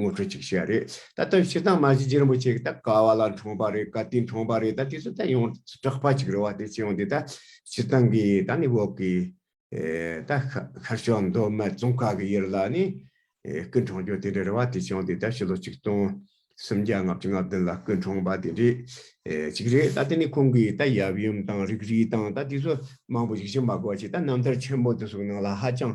ངོ་སྤྲོད་ཅིག་བྱས་རེད་ད་ལྟ་ཕྱི་ཐང་མ་གཞི་རིན་པོ་ཆེ་ད་ག་བ་ལ་འཁྲུངས་པ་རེད་ག་དུས་འཁྲུངས་པ་རེད་ད་དེ་ཚོ་ད་ཡོང་གྲགས་པ་ཅིག་རེད་བ་དེ་ཅིའང་དེ་ད་ཕྱི་ཐང་གི་ད་ནི་འོག་གི་ད་ཤར་ཕྱོགས་མདོ་སྨད་ཙོང་ཁ་གི་ཡུལ་ལ་ནི་སྐུ་འཁྲུངས་རྒྱུ་དེ་འདྲ་རེད་བ་དེ་ཅིའང་དེ་ད་ཕྱི་ལོ་ཆིག་སྟོང་སུམ་བརྒྱ་ལྔ་བཅུ་ལྔ་བདུན་ལ་སྐུ་འཁྲུངས་པ་དེ་འདྲས་ཅིག་རེད་ད་དེ་ནི་ཁོང་གི་ད་ཡབ་ཡུམ་དང་རིགས་རུས་དང་ད་དེ་ཚོ་མང་པོ་ཞིག་ཤི་འབག་གོ་བ་ཅིག་ད་རྣམ་ཐར་ཆེན་པོ་འདི་ཚོ་གི་ནང་ལ་ཧ་ཅང་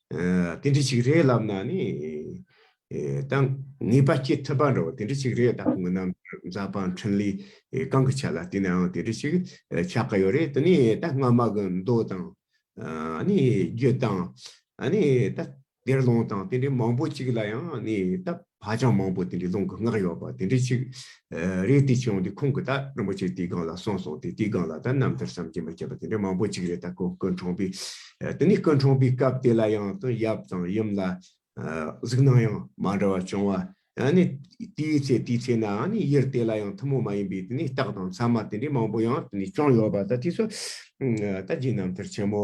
དེ་འདྲི་ཅིག་རེད་ལབ་ན་ནི། དང། ངེས་པ་སྐྱེ་ཐུབ་པ་འདྲ་བོ་དེ་འདྲི་ཅིག་རེད་ད་ཁོང་རྣམས་རྫ་སྤང་འཕྲིན་ལས་གང་གི་ཆ་ལ་བལྟས་ནའང་དེ་འདྲི་ཅིག་ཆགས་ཀྱི་ཡོད་རེད་དེ་ནི་ད་སྔ་མ་གི་མདོ་དང། རྒྱུད་དང། དེར་ལོངས་དང་དེ་འདྲི་མང་པོ་ཅིག་ལ་ཡང་ནི་ད། ཧ་ཅང་མང་པོ་དེ་འདྲའི་ལུང་གི་སྔགས་ཡོད་པ་དེ་འདྲའི་ཆིག་རིག་དེ་བྱུང་སྟེ་ཁོང་གིས་ད་རིན་པོ་ཆེ་དེའི་སྒང་ལ་སོང་སོང་སྟེ་དེའི་སྒང་ལ་ད་རྣམ་ཐར་བསམ་གྱིས་མ་ཁྱབ་པ་དེ་འདྲ་མང་པོ་ཅིག་རེད་ད་ཁོང་སྐུ་འཁྲུངས་པའི་དེ་ནས་སྐུ་འཁྲུངས་པའི་སྐབས་དེ་ལ་ཡང་དང་ཡབ་དང་ཡུམ་ལ་གཟུགས་སྣང་ཡང་མ་འདྲ་བ་བྱུང་བ་ཡང་ནི་དེའི་ཚེ་དེའི་ཚེ་ནའང་ནི་ཡུལ་དེ་ལ་ཡང་ཐུན་མོང་མ་ཡིན་པའི་དེ་ནས་རྟགས་དང་མཚན་མ་དེ་འདྲའི་མང་པོ་ཡང་དེ་ནས་བྱུང་ཡོད་པ་ད་དེ་སོགས་ད་རྗེ་རྣམ་ཐར་ཆེན་མོ་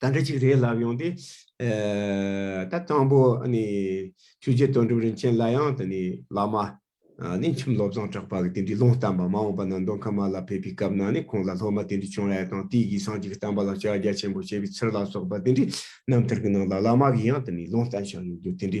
ད་འདྲ་ཅིག་རེད་ལབ་ཡོང་སྟེ། ད་དང་པོ་ནི་ཆོས་རྗེ་དོན་གྲུབ་རིན་ཆེན་ལ་ཡང་དེ་ནི་བླ་མ། ནི་ཁྱིམ་སློབ་བཟང་གྲགས་པ་གི་དེ་འདྲའི་ལུང་བསྟན་པ་མ་འོངས་པ་ན་མདོ་ཁམས་མ་ལ་ཕེབས་པའི་སྐབས་ན་ནི་ཁོང་ལ་སློབ་མ་དེ་འདྲའི་བྱུང་ཡ་དང་དེའི་ཡིག་ཚང་གཅིག་བསྟན་པ་ལ་ཕྱག་རྒྱ་ཆེན་པོ་བྱས་པའི་ཚུལ་ལ་སོགས་པ་དེ་འདྲའི་རྣམ་ཐར་གྱི་ནང་ལ་བླ་མ་གི་ཡང་དེ་ནི་ལུང་བསྟན་བཞག་ཡོད་རྒྱུ་དེ་འདྲའི་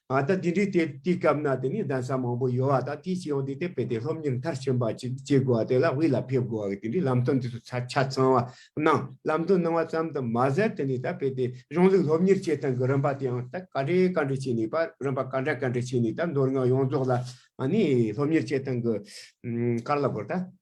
ད་ལྟ་འདི་འདྲའི་དུས་སྐབས་ན་དེ་ནས་གདན་ས་མང་པོ་ཡོད་བ་དང་དེའི་སྤྱི་ཡོངས་དེ་དེ་སྤེལ་ཏེ་སློབ་གཉེར་མཐར་ཕྱིན་པ་ཅིག་བྱེད་དགོས་བ་དེ་ལ་དབུས་ལ་ཕེབས་དགོས་བ་གི་དེ་འདྲའི་ལམ་སྟོན་དེ་ཚོ་ཆ་ཚང་བ་གནང་ལམ་སྟོན་གནང་བ་ཙམ་དུ་མ་ཟད་དེ་ནས་ད་སྤེལ་ཏེ་གཞུང་ལུགས་སློབ་གཉེར་བྱེད་སྟངས་གི་རིམ་པ་དེའང་ད་ག་འདྲའི་ག་འདྲའི་བྱས་ནས་པ་རིམ་པ་ག་འདྲ་ག་འདྲ་བྱས་ནས་ད་མདོར་ན་ཡོངས་རྫོགས་ལ་ནི་སློབ་གཉེར་བྱེད་སྟངས་གི་དཀར་ལ་བོར་ད།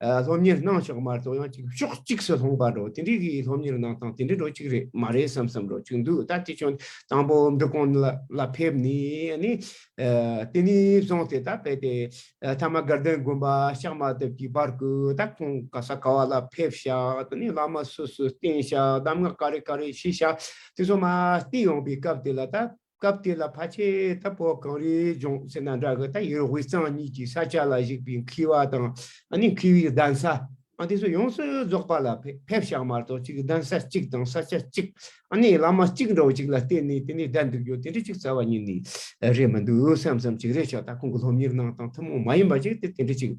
སློབ་གཉེར་གནང་ཕྱོགས་མར་དོ་ཡང་ཅིག་ཕྱོགས་གཅིག་སུ་ལྷུང་པ་འགྲོ་དེ་འདྲའི་གི་སློབ་གཉེར་གནང་སྟངས་དེ་འདྲའི་འགྲོ་གཅིག་རེད་མ་རེད་བསམ་བསམ་འགྲོ་གཅིག་འདུག་ད་དེ་ཁྱོད་དང་པོ་འབྲི་གོང་ལ་ཕེབས་ནས་ནི་དེ་ནས་བཟུང་སྟེ་ད་བས་ཏེ་ཐ་མ་དགའ་ལྡན་དགོན་པ་ཤག་མ་ཐེབས་ཀྱི་བར་དགུ་ད་ཁོང་ག་ས་ག་བ་ལ་ཕེབས་ཤག་དེ་ནས་བླ་མ་སུ་སུ་བསྟེན་ཤག་གདམས་ངག་ག་རེ་ག་རེ་ཤེས་ཤག་དེ་ཚོ་མ་བསྟེན་ཡོང་པའི་སྐབས་དེ་ལ་ད་སྐབས་དེ་ལ་ཕ་ཆེ་དང་པོ་གངས་རིའི་ལྗོངས་ཟེར་ན་འདྲ་གི་ད་ཡིན་དབུས་གཙང་གཉིས་ཀྱི་ས་ཆ་ལ་གཞིགས་པའི་འཁིལ་བ་དང་ནི་འཁིལ་བའི་གདན་ས་དེ་ཚོ་ཡོངས་སུ་རྫོགས་པ་ལ་ཕེབས་ཤག་མ་གཏོགས་གཅིག་གདན་ས་གཅིག་དང་ས་ཆ་གཅིག་ནི་བླ་མ་གཅིག་འདྲ་བོ་གཅིག་ལ་བརྟེན་ནས་དེ་ནས་བསྡད་འདུག་རྒྱུ་དེ་འདྲ་གཅིག་རྩ་བ་ཉིད་ནས་རེད་མི་འདུག་སེམས་ཙམ་གཅིག་རེད་ཆོག་ད་ཁོང་གི་སློབ་གཉེར་ནང་དང་ཐུན་མོང་མ་ཡིན་པ་གཅིག་དེ་དེ་འདྲ་གཅིག་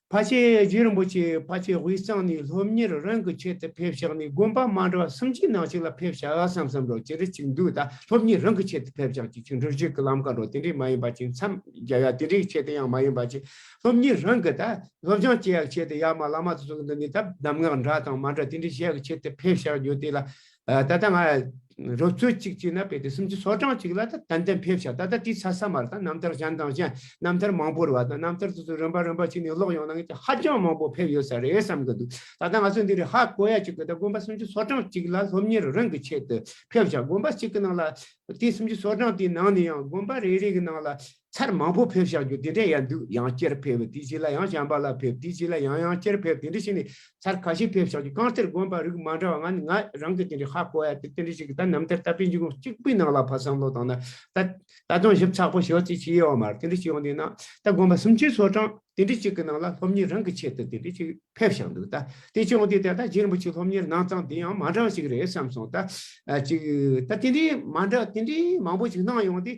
ཕ་ཆེ་རྗེ་རིན་པོ་ཆེ་ཕ་ཆེ་དབུས་གཙང་ནས་སློབ་གཉེར་རང་གི་ཆེད་དུ་ཕེབས་བཞག་ནས་དགོན་པ་མ་འདྲ་བ་སུམ་ཅུའི་ནང་ཞིག་ལ་ཕེབས་བཞག་བསམ་བསམ་རོགས་ཅི་རིགས་ཅིག་འདུག་ད་སློབ་གཉེར་རང་གི་ཆེད་དུ་ཕེབས་བཞག་ཅིག་ཆུ་འབྲུག་རྒྱུད་ཀྱི་ལམ་ཁ་འགྲོ་དེ་འདྲས་མ་ཡིན་པ་ཅིག་མཚམས་རྒྱ་ཡ་དེ་འདྲས་ཆེད་དུ་ཡང་མ་ཡིན་པ་ཅིག་སློབ་གཉེར་རང་གི་ད་སློབ་སྦྱང་བྱེད་ཡག་ཆེད་དུ་ཡ་མ་བླ་མ་ཚོ་ཚོ་འདི་ནས་ད་གདམས་ངག་འདྲ་དང་མ་འདྲ་དེ་འདྲས་བཤད་ཀྱི་ཆེད་དུ་ཕེབས་བཞག་རྒྱུ་དེ་ལ་ད་ལྟ་ང་རོ་ཚོད་གཅིག་གཅིག་ན་བེད་དེ་སུམ་ཅུ་སོ་གྲངས་གཅིག་ལ་ད་ཏན་ཏན་ཕེབས་ཤག་ད་ལྟ་དེའི་ཚ་ས་མར་དང་རྣམ་ཐར་གཞན་དང་གཞན་རྣམ་ཐར་མང་པོར་བ་དང་རྣམ་ཐར་སོ་སོ་རིམ་པ་རིམ་པ་ཕྱིན་ནས་ཀློག་ཡོང་ན་ངེད་ཅག་ཧ་ཅང་མང་པོ་ཕེབས་ཡོད་ས་རེད་བསམ་གི་འདུག་ད་ལྟ་ང་ཚོ་འདི་རུ་ཧ་གོ་ཡ་གཅིག་གི་ད་དགོན་པ་སུམ་ཅུ་སོ་གྲངས་གཅིག་ལ་སློབ་གཉེར་རིང་གི་ཆེད་དུ་ཕེབས་ཤག་དགོན་པ་གཅིག་གི་ནང་ལ་དེ་སུམ་ཅུ་སོ་གྲངས་དེའི་ནང་ནས་ཡང་དགོན་པ་རེ་རེ་གི་ནང་ལ་ཚར་མང་པོ་ཕེབས་བཞག་རྒྱུ་དེ་འདྲས་ཡག་འདུག་ཡང་བསྐྱར་ཕེབས་དེའི་རྗེས་ལ་ཡང་བྱམས་པ་ལགས་ཕེབས་དེའི་རྗེས་ལ་ཡང་ཡང་བསྐྱར་ཕེབས་དེ་འདྲས་བྱས་ནས་ཚར་ཁ་ཤས་ཕེབས་བཞག་རྒྱུ་རྐང་གཏེར་དགོན་པ་རིགས་མ་འདྲ་བ་ང་ནི་ང་རང་གིས་དེ་འདྲའི་ཧ་གོ་ཡ་དེ་དེ་འདྲས་ཞིག་གི་ད་ནམ་ཐར་ལྟ་བུའི་འཇིགས་རུང་གཅིག་པུའི་ནང་ལ་ཕར་བསམ་བློ་བཏང་ན་ད་ད་དུང་ཞིབ་ཚགས་པོ་ཞིག་ཡོད་ཚེ་ཅི་ཡོད་མ་རེད་དེ་འདྲས་ཞིག་ཡོང་དུས་ན་ད་དགོན་པ་སུམ་ཅུའི་ཚོགས་གྲངས་དེ་འདྲས་གཅིག་གི་ནང་ལ་སློབ་གཉེར་རང་གི་ཆེད་དུ་དེ་འདྲས་ཅིག་ཕེབས་བཞག་འདུག་ད་དེ་ཅིག་ཡོང་དུས་དེ་ད་རྗེས་རིན་པོ་ཆེ་སློབ་གཉེར་གནང་སྟངས་དེ་ཡང་མ་འདྲ་བ་ཞིག་རེད་བསམ་སོང་ད་ཅིག་ད་དེ་འདྲས་མ་འདྲ་དེ་འདྲས་མང་པོ་ཞིག་གནང་ཡོང་དུས་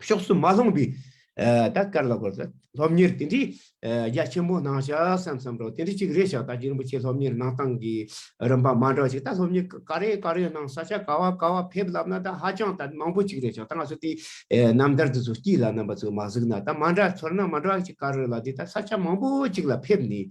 ཕྱོགས་སུ་མ་ལྷུང་བས། ད་དཀར་ལ་གོལ། སློབ་གཉེར་དེ་འདྲའི་རྒྱ་ཆེན་པོ་གནང་བྱ་བསམ་བསམ་རོགས་དེ་འདྲ་ཅིག་རེད་བཞག་ད་རྗེ་རིན་པོ་ཆེ་སློབ་གཉེར་གནང་སྟངས་ཀྱི་རིམ་པ་མ་འདྲ་བ་ཞིག་ད་སློབ་གཉེར་ག་རེ་ག་རེ་གནང་ས་ཆ་ག་བ་ག་བ་ཕེབས་ལབ་ན་ད་ཧ་ཅང་ད་མང་པོ་ཅིག་རེད་བཞག་ད་ང་ཚོ་དེ་ནམ་ཟླར་དེ་ཚོ་སྐྱིད་ལ་རྣམ་པ་ཚོ་མ་གཟིགས་ན་ད་མ་འདྲ་ཚོར་སྣང་མ་འདྲ་བ་ཅིག་ག་རེ་ལ་དེ་ད་ས་ཆ་མང་པོ་ཅིག་ལ་ཕེབས་ནས་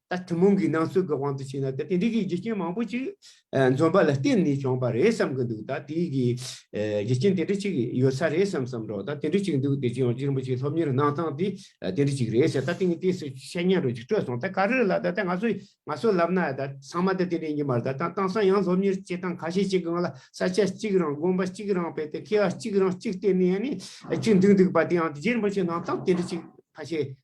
ད་ཐུན་མོང་གི་སྣང་ཚུལ་གྱི་དབང་དུ་བྱས་ན་ད་དེ་འདྲའི་གྱི་རྒྱུ་རྐྱེན་མང་པོ་ཅིག་འཛོམས་པ་ལ་བརྟེན་ནས་བྱུང་བ་རེད་བསམ་གྱི་འདུག་ད་དེའི་གི་རྒྱུ་རྐྱེན་དེ་འདྲ་ཅིག་ཡོད་ས་རེད་བསམ་བསམ་རོགས་ད་དེ་འདྲ་ཅིག་འདུག་དེ་རྗེས་ཡང་རིན་པོ་ཆེའི་སློབ་གཉེར་གནང་སྟངས་དེ་དེ་འདྲ་ཅིག་རེད་ཟེར་ད་དེ་ནི་དེ་སུ་ཤེས་སྙམ་རོ་ཅིག་སྤྲོ་སོང་ད་ག་རེ་ལ་ད་ད་ང་ཚོ་ང་ཚོ་ལབ་ན་ད་ཚང་མ་ད་དེ་འདྲའི་ཉི་མར་ད་ད་དང་སང་ཡང་སློབ་གཉེར་བྱེད་སྟངས་ཁ་ཤས་ཅིག་གང་ལ་ས་ཆ་གཅིག་རང་དགོན་པ་གཅིག་རང་བས་ཏེ་ཁེ་བ་གཅིག་རང་གཅིག་བརྟེན་ནས་ཡང་ནི་གཅིག་འདུག་འདུག་པ་དེ་ཡང་དེ་རྗེས་རིན་པོ་ཆེ་གནང་སྟངས་དེ་འདྲ་ཅིག་ཁ་ཤས་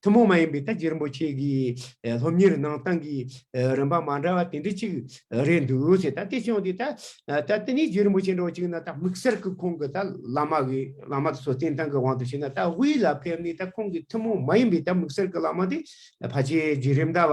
ཐུན་མོང་མ་ཡིན་པའི་ཏཱ་ཇི་རིན་པོ་ཆེ་གི་སློབ་གཉེར་ནང་ཏང་གི་རིམ་པ་མ་འདྲ་བ་དེ་འདྲ་ཅིག་རེད་འདུག་ཟེར་ད་དེ་བྱུང་སྟེ་ད་ད་ཏཱ་ནི་ཇི་རིན་པོ་ཆེ་འདྲ་བ་ཅིག་ན་ད་དམིགས་བསལ་གྱི་ཁོང་གི་ད་བླ་མ་གི་བླ་མ་སོ་བསྟེན་སྟངས་ཀྱི་དབང་དུ་བྱས་ན་ད་དབུས་ལ་ཕེབས་ནས་ད་ཁོང་གི་ཐུན་མོང་མ་ཡིན་པའི་ད་དམིགས་བསལ་གྱི་བླ་མ་དེ་ཕ་ཆེ་ཇི་རིམ་ད་བ་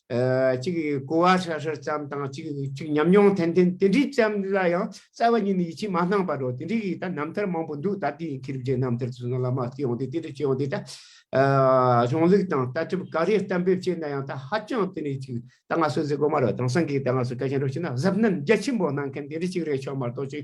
གཅིག་གིས་གོ་བ་ཧྲལ་ཧྲལ་ཙམ་དང་གཅིག་གཅིག་ཉམས་མྱོང་ཐན་ཐན་དེ་འདྲའི་ཙམ་ལ་ཡང་རྩ་བ་ཉིད་ནས་ཡིད་ཆེས་མ་གནང་བར་རོ་དེ་འདྲའི་ཡིད་ད་རྣམ་ཐར་མང་པོ་འདུག་ད་ལྟའི་ཡིད་ཁེ་རིགས་འདྲའི་རྣམ་ཐར་དུ་སོང་ལ་མ་སྐྱེས་འོང་དུས་དེ་འདྲ་སྐྱེས་འོང་དུས་ད། གཞུང་ལུགས་དང་ལྟ་གྲུབ་ག་རེ་གཏན་འབེབས་བྱས་ན་ཡང་ད་ཧ་ཅང་དེ་ནས་གཅིག་ད་ང་སོ་སོའི་དགོ་མ་རོ་དང་སངས་རྒྱས་ད་ང་སོ་སྐལ་ཆེན་རོ་ཞེས་ན་གཟབ་ནན་རྒྱ་ཆེན་པོ་གནང་མཁན་དེ་འདྲ་གཅིག་རེ་ཆོག་མ་གཏོགས་གཅིག་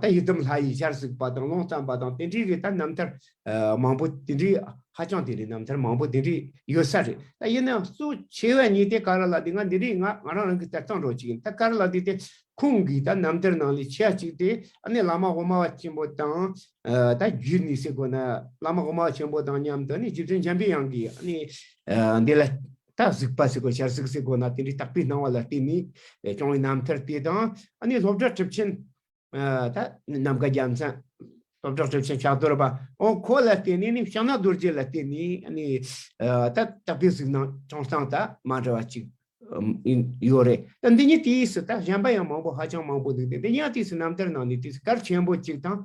ད་ཡི་དམ་ལྷ་ཡིས་ཞར་གཟིགས་པ་དང་ཀློང་བརྩམས་པ་དང་དེ་འདྲའི་རེད་ད་རྣམ་ཐར་མང་པོ་དེ་འདྲའི་ཧ་ཅང་དེ་འདྲའི་རྣམ་ཐར་མང་པོ་དེ་འདྲའི་ཡོད་ས་རེད་ད་ཡིན་ནའང་གཙོ་ཆེ་བས་ཉིད་དེ་ཀ་ར་ལ་དེ་སྔ་འདི་རིགས་ང་ང་རང་རང་གིས་ལྟ་སྟངས་རོགས་གཅིག་ཡིན་ད་ཀ་ར་ལ་དེ་དེ་ཁོང་གིས་ད་རྣམ་ཐར་ནང་ལས་ཆེ་བ་གཅིག་དེ་ཨ་ནེ་བླ་མ་དབུ་མ་བ་ཆེན་པོ་དང་ད་རྒྱུད་ནི་སེ་གོ་ན་བླ་མ་དབུ་མ་བ་ཆེན་པོ་དང་མཉམ་དུ་ཨ་ནེ་རྗེ་བཙུན་འཇམ་པའི་དབྱངས་ཀྱིས་ཨ་ནེ་འདི་ལ་སྟག་གཟིག་པ་ཟེར་དགོས་ཤར་གཟིག་ཟེར་དགོས་ན་དེ་འདྲའི་དག་པའི་སྣང་བ་ལ་བརྟེན་ནས་བྱུང་བའི་རྣམ་ཐར་དེ་དང་ཨ་ནི་སློབ་གྲྭ་གྲུབ་ཆེན། ད་ནམ་མཁའ་རྒྱལ་མཚན། སློབ་གྲྭ་གྲུབ་ཆེན་ཕྱག་རྡོར་པ། ཨོ་ཁོ་ལ་བརྟེན་ནས་ནི་ཕྱག་ན་རྡོ་རྗེ་ལ་བརྟེན་ནས་ཨ་ནི་ད་དག་པའི་གཟིགས་སྣང་བྱུང་སྟངས་དང་མ་འདྲ་བ་གཅིག་ཡོད་རེད་ད་འདི་ཉིད་དུས་སུ་ད་གཞན་པ་ཡང་མང་པོ་ཧ་ཅང་མང་པོ་འདུག་འདི་ཉིད་དུས་སུ་རྣམ་ཐར་ནང་ནས་དུས་སྐར་ཆེན་པོ་གཅིག་དང་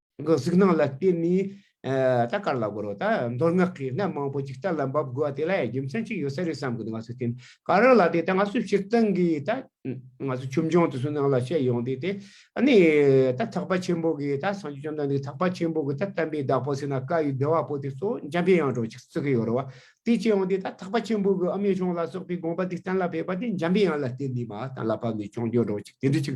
གི་གཟུགས་སྣང་ལ་བརྟེན་ནས་ད་ག་ལ་དགོས་རོགས་ད་མདོར་སྔགས་ཀྱི་སྣོད་མང་པོ་ཅིག་རྩ་ལ་འབབ་དགོས་པ་དེ་ལ་ཡང་རྒྱུ་མཚན་ཅིག་ཡོད་ས་རེད་བསམ་གི་འདུག་ང་ཚོས་དེ་ག་རང་ལ་དེ་ད་ང་ཚོས་སྤྱིར་བཏང་གི་ད་ང་ཚོ་ཁྱིམ་སྦྱོང་དུ་སུན་སྣང་ལ་བཤད་ཡོང་དུས་དེ་ནི་ད་ཐག་པ་ཆེན་པོ་གི་ད་སངས་རྒྱས་བཅོམ་ལྡན་འདས་ཐག་པ་ཆེན་པོ་གི་ད་བསྟན་པའི་བདག་པོ་ཟེར་ན་བཀའ་ཡི་བདེ་བ་པོ་དེ་གཙོ་བོ་འཇམ་པའི་དབྱངས་གྲོགས་ཅིག་བརྩི་གི་ཡོད་རེད་བ་དེ་བྱས་ཡོང་དུས་ད་ཐག་པ་ཆེན་པོ་གི་ཨ་མའི་གཞུང་ལ་སོགས་པའི་དགོངས་པ་དེ་གཏན་ལ་ཕེབས་པ་དེ་འཇམ་པའི་དབྱངས་ལ་བརྟེན་ནས་མ་གཏན་ལ་ཕབ་ནས་ཆོས་འབྱོར་གྲོགས་ཅིག་དེ་འདྲ་ཅིག་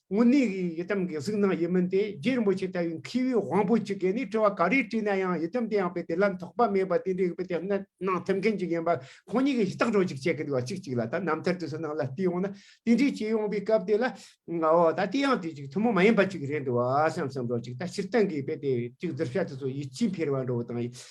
དངོས་གནས་ཡི་དམ་གྱི་གཟུགས་སྣང་ཡིན་མིན་དེ་རྗེ་རིན་པོ་ཆེ་ལྟ་བུའི་མཁས་པའི་དབང་པོ་གཅིག་གིས་ནི་དྲི་བ་ག་རེ་དྲིས་ན་ཡང་ཡི་དམ་དེ་ཡང་པས་དེ་ལ་དོགས་པ་མེད་པར་དེ་འདྲའི་ཡོད་པའི་དེ་སྔ་གནང་ཐུབ་མཁན་གཅིག་ཡིན་པ་ཁོང་གཉིས་ཀྱིས་ཤི་རྟག་གྲོགས་གཅིག་བྱེད་ཀྱི་འདུག་ལ་གཅིག་གཅིག་ལ་ད་རྣམ་ཐར་དུ་སུ་ནང་ལ་བལྟས་ཡོང་ན་དེ་འདྲའི་བྱེད་ཡོང་པའི་སྐབས་དེ་ལ་འོ་ད་དེ་ཡང་དུས་གཅིག་ཐུན་མོང་མ་ཡིན་པ་གཅིག་རེད་འདུག་བསམ་བསམ་རོགས་གཅིག་ད་ཕྱིར་བཏང་གིས་དཔེ་དེ་གཅིག་བསྡུར་བྱ་དུས་སུ་ཡིད་ཆེས་འཕེར་བ་འགྲོ་བ་དང་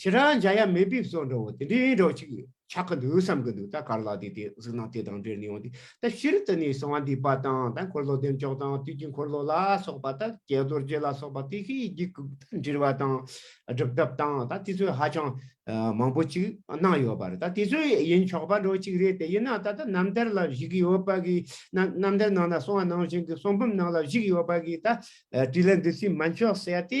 ཁྱེད་རང་འཇའ་ཡ་མེ་འབིབས་སོགས་འདྲ་བོ་དེ་འདྲའི་སྒྲོག་ཅིག་ཆགས་ཀྱི་འདུག་བསམ་གྱི་འདུག་ད་གར་ལགས་དེ་དེ་གཟིགས་སྣང་དེ་དང་འབྲེལ་ནས་ཡོང་དུས་ད་ཤི་རི་ཏི་ནས་གསང་བ་འདུས་པ་དང་ད་འཁོར་ལོ་འདེམས་ཕྱོགས་དང་དུས་ཀྱི་འཁོར་ལོ་ལ་སོགས་པ་ད་ཀྱེ་རྡོ་རྗེ་ལ་སོགས་པ་དེ་ཤི་ཡི་འགྱིག་ཁུག་ད་འདྲིལ་བ་དང་སྒྲུབ་ཐབས་དང་ད་དེ་ཚོས་ཧ་ཅང་མང་པོ་ཅིག་གནང་ཡོད་པ་རེད་ད་དེ་ཚོས་ཡིན་ཆོག་པ་འདྲོ་ཅིག་རེད་དེ་ཡིན་ན་ད་ད་རྣམ་ཐར་ལ་བཞུགས་ཀྱི་ཡོད་པ་གི་ན་རྣམ་ཐར་ནང་ན་གསང་བ་ནང་བཞིན་གྱི་གསང་བུམ་ནང་ལ་བཞུགས་ཡོད་པ་གི་ད་བྲིས་ལ་འདི་ཚོས་མ་མཆོག་ཟེར་ཏེ་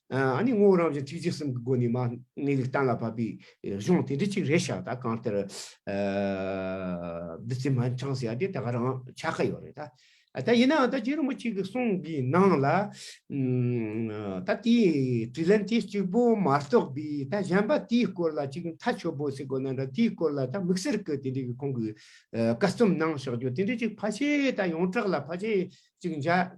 ཨཱ་ནི་ངོ་བོ་རང་བཞིན་ཐིག་རྗེས་གསུམ་གྱི་སྒོ་ནས་མ་ངེས་ལུགས་གཏན་ལ་ཕབ་པའི་གཞུང་དེ་འདྲི་གཅིག་རེ་བྱ་ད་གང་ལྟར་བདུད་རྩི་མ་འཆང་ཟེར་ཡ་དེ་ད་ག་རང་ཆ་ཁ་ཡོད་རེད་ད། ད་ཡིན་ནའང་ད་རྗེ་རིན་པོ་ཆེ་གི་གསུང་གི་ནང་ལ་ད་དེའི་དྲི་ལན་དེ་གཅིག་པོ་མ་གཏོགས་པའི་ད་གཞན་པ་དེའི་སྐོར་ལ་གཅིག་མཐའ་ཆོད་པོ་ཟེར་དགོས་ན་འདྲ་དེའི་སྐོར་ལ་ད་དམིགས་བསལ་གྱི་དེ་འདྲི་གི་ཁོང་གི་བཀའ་རྩོམ་ནང་བཞག་རྒྱུ་དེ་འདྲི་གཅིག་ཕ་ཆེ་ད་ཡོངས་གྲགས་ལ་ཕ་ཆེ་གཅིག་མཇལ།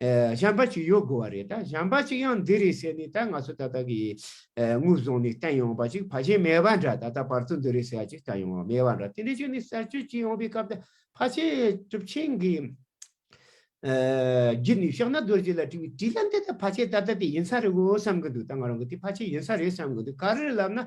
གཞན་པ་ཅིག་ཡོད་དགོས་བ་རེད་ད་གཞན་པ་ཅིག་ཡང་འདི་རེད་ཟེར་ནས་ད་ང་ཚོ་ད་ལྟ་གི་དངུལ་བཟུང་ནས་བསྟན་ཡོང་བ་ཅིག་ཕ་ཆེན་མེད་པ་འདྲ་ད་ལྟ་བར་དུ་འདི་རེད་ཟེར་བ་ཅིག་ད་ཡོང་བ་མེད་བ་འདྲ་དེ་འདྲའི་ཆོས་ནི་གསར་བཅོས་བྱེད་ཡོང་བའི་སྐབས་ད་ཕ་ཆེན་གྲུབ་ཆེན་གྱི་རྒྱུད་ནས་ཤོག་ན་རྡོ་རྗེ་ལ་དྲི་བའི་དྲིས་ལན་འདི་ད་ཕ་ཆེན་ད་ལྟ་དེ་ཡིན་ས་རེད་འོ་བསམ་གྱི་འདུག་ད་ང་རང་གི་དེ་ཕ་ཆེན་ཡིན་ས་རེད་བསམ་གྱི་འདུག་ག་རེ་ལབ་ན་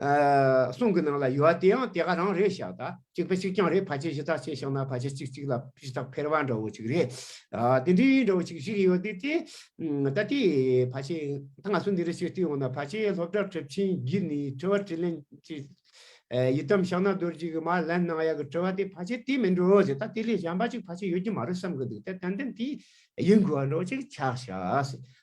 གསུང་གི་ནང་ལ་ཡོད་དེའང་དེ་ག་རང་རེད་ཤག་ད་གཅིག་པ་གཅིག་རྐྱང་རེད་ཕ་ཆེ་ཞེ་ཐག་ཆེ་ཤག་ན་ཕ་ཆེ་གཅིག་གཅིག་ལ་ཕྱི་ཐག་འཕེར་བ་འདྲ་བོ་ཅིག་རེད་དེ་འདྲའི་འདྲ་བོ་ཅིག་ཞིག་ཡོད་དེ་ད་ལྟའི་ཕ་ཆེ་ད་ང་ཚོ་འདི་འདྲ་ཞིག་བསྟི་ཡོང་ན་ཕ་ཆེ་སློབ་གྲྭ་གྲབས་ཆེན་བརྒྱུད་ནས་དྲི་བ་དྲིས་ལན་བྱེད་ཡི་དམ་ཤག་ན་རྡོ་རྗེ་གི་མ་ལན་གནང་ཡག་གི་དྲི་བ་དེ་ཕ་ཆེ་དེ་མིན་འགྲོ་ཟེར་ད་དེ་ལས་གཞན་པ་ཅིག་ཕ་ཆེ་ཡོད་ཀྱི་མ་རེད་བསམ་གི་འདུག་ད་ཏན་ཏན་དེ་ཡིན་དགོས་བ་འདྲ་བོ་ཅིག་ཆགས་ཤག་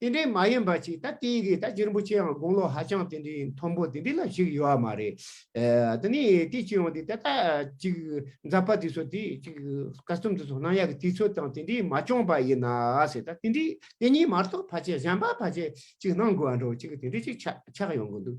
དེ་འདྲའི་མ་ཡིན་པ་ཞིག་ད་དེ་ཡི་གེ་ད་རྗེ་རིན་པོ་ཆེའང་དགུང་ལོ་ཧ་ཅང་དེ་འདྲའི་མཐོན་པོ་དེ་འདྲའི་ལ་ཞིག་ཡོད་མ་རེད། དེ་ནས་དེ་ཅི་ཡོང་དེ་ད་ལྟ་ཅིག་འཛག་པ་དེ་ཚོ་དེ་ཅིག་ཀ་སུམ་དེ་ཚོ་སྣང་ཡག་གི་དུས་ཚོད་དང་དེ་འདྲའི་མ་བྱུང་པ་ཡིན་ན་ཟེར་ད་དེ་འདྲའི་དེ་གཉིས་མ་གཏོགས་བར་ཆད་གཞན་པ་བར་ཆད་ཅིག་གནང་དགོས་འགྲོ་ཅིག་དེ་འདྲའི་ཅིག་ཆགས་ཡོང་གི་འདུག་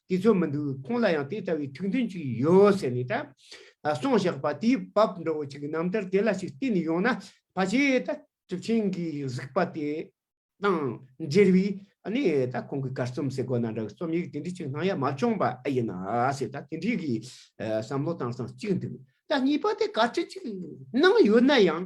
དེ་ཚོ་མི་འདུག་ཁོང་ལ་ཡང་དེ་ལྟ་བུའི་ཐུགས་འདུན་ཅིག་ཡོད་ཟེར་ནས་ད་སོང་བཞག་པ་དེའི་བབ་འགྲོ་བོ་ཅིག་རྣམ་ཐར་དེ་ལ་ཞིག་བལྟས་ནས་ཡོང་ན་ཕ་ཆེ་ད་གྲུབ་ཆེན་གྱི་གཟིགས་པ་དེ་དང་འབྲེལ་བའི་ནས་ད་ཁོང་གི་གར་རྩོམ་གསེར་སྒོ་ན་འདྲ་གི་རྩོམ་ཡིག་དེ་འདྲ་ཅིག་སྣང་ཡ་མ་བྱུང་བ་ཨེ་ཡིན་ན་ཟེར་ད་དེ་འདྲའི་གི་བསམ་བློ་བཏང་སྟངས་གཅིག་འདུག་ད་གཉིས་པ་དེ་གར་ཁྲིད་ཅིག་གནང་ཡོད་ན་ཡང་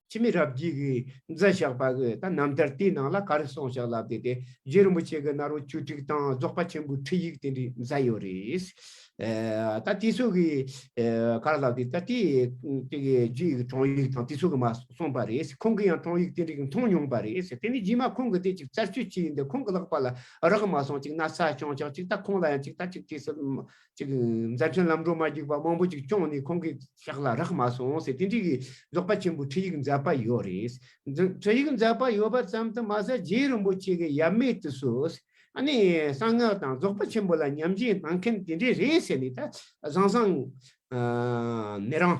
ཁྱིམ་མི་རབ་རྒྱས་ཀྱིས་མཛད་བཞག་པ་གི་ད་ནམ་ལྟར་དེའི་ནང་ལ་ག་རེ་གསུངས་བཞག་ལབ་དེ་དེ་རྗེ་རིན་པོ་ཆེ་གི་ནར་བུ་བཅུ་དྲུག་དང་རྫོགས་པ་ཆེན་པོའི་ཁྲིད་ཡིག་དེ་འདྲས་མཛད་ཡོད་རེད། ད་དེ་ཚོ་གི་ག་རེ་ལབ་དེ་ད་དེ་དེ་གི་རྗེ་ཡི་དྲང་ཡིག་དང་དེ་ཚོ་གི་མ་གསུངས་པ་རེད། ཁོང་གི་ཡང་དྲང་ཡིག་དེ་འདྲས་ཀྱི་མཐོང་མྱོང་པ་རེད། དེ་ནི་རྗེས་མ་ཁོང་གི་དེ་ཅིག་བཙལ་བཅོས་བྱས་ཡིན་དེ་ཁོང་གི་ལག་པ་ལ་རག་མ་སོང་ཅིག་ན་ས་བྱང་ཆག་ཅིག་ད་ཁོང་ལ་ཡང་ཅིག་ད་ཅིག་དེ་སྲིད་ཅིག། མཛའ་ཆེན་ལམ་འགྲོ་མ་རྒྱུག་པ་མང་པོ་ཅིག་སྐྱོང་ནས་ཁོང་གི་ཞག་ལ་རག་མ་སོང་ཟེར་དེ་འདྲིས་ཀྱི་རྫོགས་པ་ཆེན་པོའི་ཁྲིད་ཡིག་མཛད་པ་ཡོད་རེད། ཁྲིད་ཡིག་མཛད་པ་ཡོད་པ་ཙམ་དུ་མ་ཟད་རྗེ་རིན་པོ་ཆེ་གི་ཡབ་མེས་དུ་སུ་ནི་གསང་སྔགས་དང་རྫོགས་པ་ཆེན་པོ་ལ་ཉམས་བཞེས་གནང་མཁན་དེ་འདྲས་རེད་ཟེར་ནས་ད་བཟང་བཟང། མི་རང།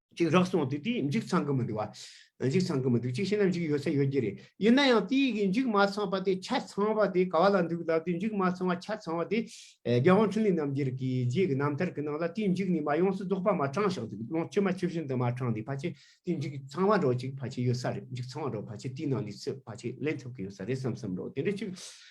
ཅིག་རག་སོང་དེ་དུས་འཇིག་ཚང་གི་མི་འདུག་བ། འཇིག་ཚང་གི་མི་འདུག་ཅིག་བྱས་ན་འཇིག་ཡོད་ས་ཡོད་རྒྱུ་རེད། ཡིན་ན་ཡང་དུས་ཀྱི་འཇིག་མ་ཚང་པ་དེ་ཆ་ཚང་བ་དེ་ག་བ་ལ་འདུག་ལབ་དུས་འཇིག་མ་ཚང་བ་ཆ་ཚང་བ་དེ། རྒྱལ་དབང་འཕྲིན་ལས་རྣམ་རྒྱལ་གྱི་རྗེས་ཀྱི་རྣམ་ཐར་གྱི་ནང་ལ་དུས་འཇིག་ནི་མ་ཡོངས་སུ་རྫོགས་པ་མ་དྲངས་ཤིང་དུས་ཀློང་ཕྱི་མ་ཆུ་བཞིན་དུ་མ་དྲངས་དུས་ཕལ་ཆེར་དུས་འཇིག་ཚང་བ་འགྲོ་ཅིག་ཕལ་ཆེར་ཡོད་ས་རེད་འཇིག་ཚང་བ་འགྲོ་ཕལ་ཆེར་དུས་ནང་ནས་ཚུད་ཕལ་ཆེར་ལེན་ཐུབ་ཀྱི་ཡོད་ས་རེད་བསམ་བསམ་འགྲོ་དེ་འདྲ་ཅིག་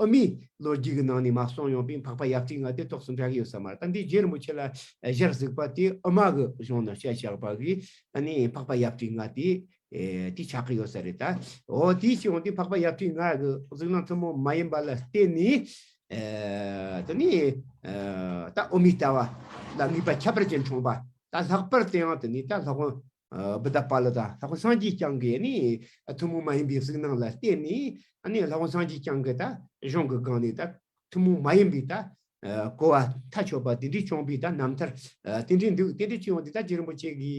ཨ་མའི་ལོ་རྒྱུས་ཀྱི་ནང་ནས་མ་གསུངས་ཡོང་པའི་འཕགས་པ་ཡབ་ཅིག་ང་དེ་ཐོག་སུ་འདྲ་གི་ཡོད་ས་མ་རེད་ད་འདི་རྗེ་རིན་པོ་ཆེ་ལ་གཞིར་གཟིགས་པ་དེ་ཨ་མ་གི་གཞུང་ནང་བཤད་བཞག་པ་གི་ཨ་ནི་འཕགས་པ་ཡབ་ཅིག་ང་དེ་དེ་ཆགས་ཀྱི་ཡོད་ས་རེད་ད་འོ་དེའི་ཕྱིར་འོན་ཏེ་འཕགས་པ་ཡབ་ཅིག་ང་གི་གཟིགས་སྣང་ཐུན་མོང་མ་ཡིན་པ་ལ་བརྟེན་ནས་དེ་ནི་ད་ཨོ་མའི་ལྟ་བ་ལ་ངེས་པ་ཁྱད་པར་ཅན་འཁྲུངས་པ་ད་ལྷག་པར་དེའང་དེ་ནི་ད་ལྷག་དབང་བུ་དག་པ་ལ་དང་ལྷ་ཁོ་སངས་རྒྱས་བསྐྱངས་ཀྱི་ནི་ཐུན་མོང་མ་ཡིན་པའི་གཟུགས་སྣང་ལ་བརྟེན་ནས་ནི་ལྷ་ཁོ་སངས་རྒྱས་བསྐྱངས་ཀྱི་དང་གཞུང་གི་སྒང་ནས་དང་ཐུན་མོང་མ་ཡིན་པའི་དང་གོ་བ་མཐའ་ཆོད་པ་དེ་འདྲའི་བསྐྱངས་པའི་དང་རྣམ་ཐར་དེ་འདྲའི་འདུག་དེ་འདྲའི་སྤྱི་ཡོངས་དེ་དག་རྗེ་རིན་པོ་ཆེ་གི་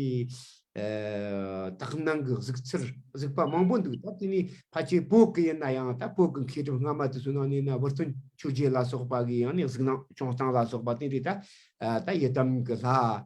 དག་སྣང་གི་གཟུགས་ཚུལ་གཟུགས་པ་མང་པོ་འདུག་དང་དེ་ནི་ཕ་ཆེན་བོད་ཀྱི་ཡིན་ན་ཡང་དང་བོད་ཀྱི་མཁས་གྲུབ་སྔ་མ་དུ་སོ་ནང་ནས་ན་བུ་སྟོན་ཆོས་རྒྱལ་ལ་སོགས་པ་གི་ཡང་ནི་གཟུགས་སྣང་བྱུང་སྟངས་ལ་སོགས་པ་དེ་འདྲའི་དང་ཡི་དམ་གྱི་ལྷ་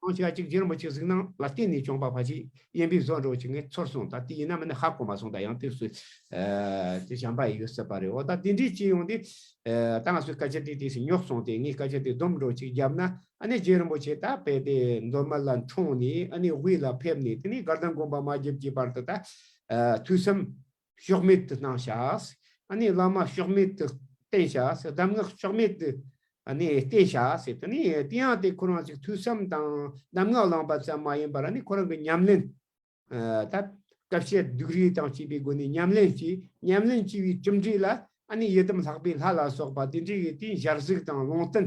ཁང་ཆ་གཅིག་སྒྱུར་མི་གཅིག་གཟིགས་སྣང་ལ་བརྟེན་ནས་བྱོན་པ་ཕ་ཆེ་གཡེམ་པས་བཟོ་འགྲོ་བྱེད་ངེས་ཚོར་སོང་ད་ལྟའི་ཡིན་ནམ་ནི་ཧ་གོ་མ་སོང་ད་ཡང་དེ་སུས་ཀྱི་བྱམས་པ་ཡིན་ཡོད་སྲིད་པ་རེད་འོ་ད་དེ་འདྲའི་སྐྱིད་ཡོང་དུས་ད་ང་སུས་བཀའ་སྤྱི་དེ་དུས་སུ་ཉོག་སོང་སྟེ་ངས་བཀའ་སྤྱི་དེ་སྡོམ་འགྲོ་གཅིག་བརྒྱབ་ན་ནི་རྗེ་རིན་པོ་ཆེ་ད་བས་ཏེ་མདོ་སྨད་ལ་འཁྲུངས་ནས་ནི་དབུས་ལ་ཕེབས་ནས་དེ་ནས་སྒར་དང་དགོན་པ་མ་བརྒྱབ་ཀྱི་བར་དུ་ད་དུས་སམ། ཕྱོགས་མེད་དུ་སྣང་བྱ། ཨ་ནི་བླ་མ་ཕྱོགས་མེད་དུ་བསྟེན་བྱ། གདམས་ངག་ཕྱོགས་མེད་དུ་བསྟེན་བྱ། དེ་ནི་དེ་ཡང་དེ་ཁོ་རང་གཅིག་ཐོས་བསམ་དང་གདམས་ངག་བླངས་པ་ཙམ་མ་ཡིན་པར་ཨ་ནི་ཁོ་རང་གི་ཉམས་ལེན། ད་སྐབས་བཤད་སྡུག་རིས་དང་བཅས་པའི་སྒོ་ནས་ཉམས་ལེན་གྱིས་ཉམས་ལེན་བགྱི་བའི་གྲུབ་འབྲས་ལ་ཨ་ནི་ཡི་དམ་ལྷག་པའི་ལྷ་ལ་སོགས་པ་དེ་འདྲའི་ཡོད་དེ་ཞར་གཟིགས་དང་ལུང་བསྟན་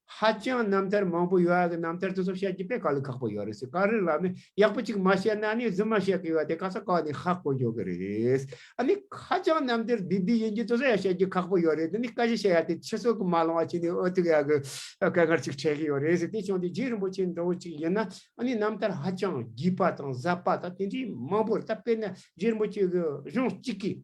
ཧ་ཅང་རྣམ་ཐར་མང་པོ་ཡོད་ཨ་གི་རྣམ་ཐར་དེ་ཚོ་བཤད་རྒྱུ་དཔེ་ག་ལ་ཁག་པོ་ཡོད་རེད་ཟེར་ག་རེ་ལ་ནི་ཡག་པོ་ཅིག་མ་བཤད་ན་ནི་རྫུན་མ་བཤད་གི་ཡོད་དེ་ག་ས་ག་ནས་ཧ་གོ་འཇོག་གི་རེད། ཨ་ནི་ཧ་ཅང་རྣམ་ཐར་བདེ་བདེ་ཡིན་རྒྱུ་དེ་ཚོ་ཡང་བཤད་རྒྱུ་ཁག་པོ་ཡོད་རེད་དེ་ནི་བཀའ་བཞི་བཤད་ཡ་དེ་ཕྱི་སྲོལ་གི་མ་ལོང་བ་ཅིག་ནི་ཨོ་ཐུག་ཡ་གི་སྐད་ངར་ཅིག་འཕྲད་གི་ཡོད་རེད་ཟེར་དེ་བྱུང་དེ་རྗེ་རིན་པོ་ཆེ་འདྲ་བོ་ཅིག་ཡིན་ན་ཨ་ནི་རྣམ་ཐར་ཧ་ཅང་བརྒྱུས་པ་དང་ཟབ་པ་དང་དེ་འདྲའི་མང་པོ་རེད་ད་དཔེར་ན་རྗེ་རིན་པོ་ཆེ་གི་གཞུང་གཅིག་གིས།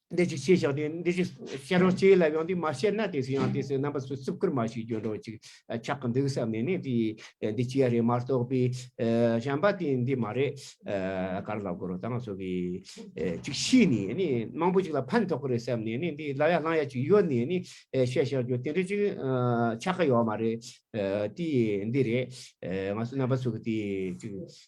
འདི་ཅིག་ཤེས་བྱ་སྟེ་འདི་ཅིག་ཤེས་རོགས་གཅིག་ལ་ཡང་དེ་མ་ཤེས་ན་དེ་སུ་ཡང་དེ་སུ་རྣམ་པ་སུ་རྩུབ་ཀར་མ་ཞིག་གྱུར་རོ་ཅིག་ཆགས་ཀྱི་འདུག་བསམ་ནས་ནི་དེས་འདི་ཅིག་རེད་མ་རྟོགས་པའི་བྱམས་པ་དེས་འདི་མ་རེད་གར་ལ་གོ་རོ་དང་སོགས་ཀྱིས་ཅིག་ཤེས་ནས་ནི་མང་པོ་ཅིག་ལ་ཕན་ཐོགས་ཀྱི་རེད་བསམ་ནས་ནི་འདི་ལ་ཡ་བླང་ཡ་ཅིག་ཡོད་ནས་ནི་བཤད་བཞག་རྒྱུ་དེ་འདྲ་ཅིག་ཆགས་ཀྱི་ཡོད་མ་རེད་དེས་འདི་རེད་ང་སུ་རྣམ་པ་སུ་གི་དེ་ཅིག།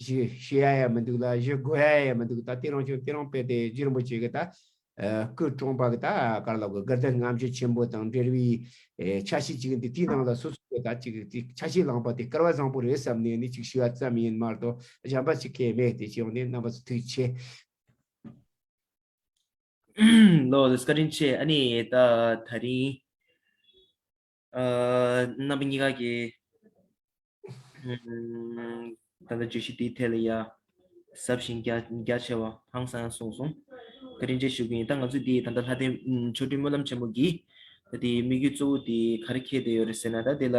གཞི་ཤེས་ཡ་ཡ་མི་འདུག་ལ་གཞི་དགོས་ཡ་ཡ་མི་འདུག་ད་ལྟའི་རང་བྱུང་དེ་རང་དཔེ་དེ་རྗེ་རིན་པོ་ཆེ་གི་ད་སྐུ་བཀྲོངས་པ་གི་ད་གར་ལོག་གི་དགར་ལྡན་རྔམ་བརྗིད་ཆེན་པོ་དང་འབྲེལ་བའི་ཆ་ཤས་ཅིག་ཡིན་དུས་དེའི་ནང་ལ་སོ་སོ་གི་ད་ཅིག་ཆ་ཤས་བླངས་པ་དེ་སྐལ་བ་བཟང་པོ་རེད་བསམ་ནས་ནི་ཅིག་ཞུ་བ་ཙམ་ཡིན་མ་གཏོགས་གཞན་པ་ཅིག་སྐལ་མེད་དེ་ཅིའང་ནི་རྣམ་པ་ཚོ་ཐུགས་རྗེ་ཆེ། ལོ་བཀྲིན་ཆེ་ཨ་ནི་ད་ད་རིང། རྣམ་པ་གཉིས་ཀ་གི་ད་ལྟ་བརྗོད་གཞི་དེའི་ཐད་ལ་ཡང་ཟབ་ཞིང་རྒྱ་ཆེ་བ་ཧང་སང་ཡང་གསུངས་སོང། བཀའ་དྲིན་ཆེ་ཞུ་གི་ཡིན་ད་ང་ཚོས་འདི་ད་ལྟ་ལྷ་ལྡན་མཆོག་སྤྲུལ་སྨོན་ལམ་ཆེན་མོ་གིས་ད་འདིའི་དམིགས་ཡུལ་གཙོ་བོ་དེ་ག་རེ་འཁྱེར་བསྡད་ཡོད་རེད་ཟེར་ན་ད་འདི་ལ།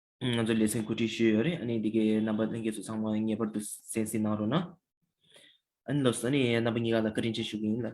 ང་ཚོ་ལེ་ཚན་གོ་སྒྲིག་ཞུས་ཡོད་རེད་ཨ་ནི་འདི་གའི་རྣམ་པ་ལྷན་རྒྱས་སུ་ཚང་མ་ངེས་པར་དུ་གསན་གཟིགས་གནང་རོགས་གནང། ཨ་ནི་ལོས་ཨ་ནི་རྣམ་པ་གཉིས་ཀ་ལ་བཀའ་དྲིན་ཆེ་ཞུ་གི་ཡིན་ལ།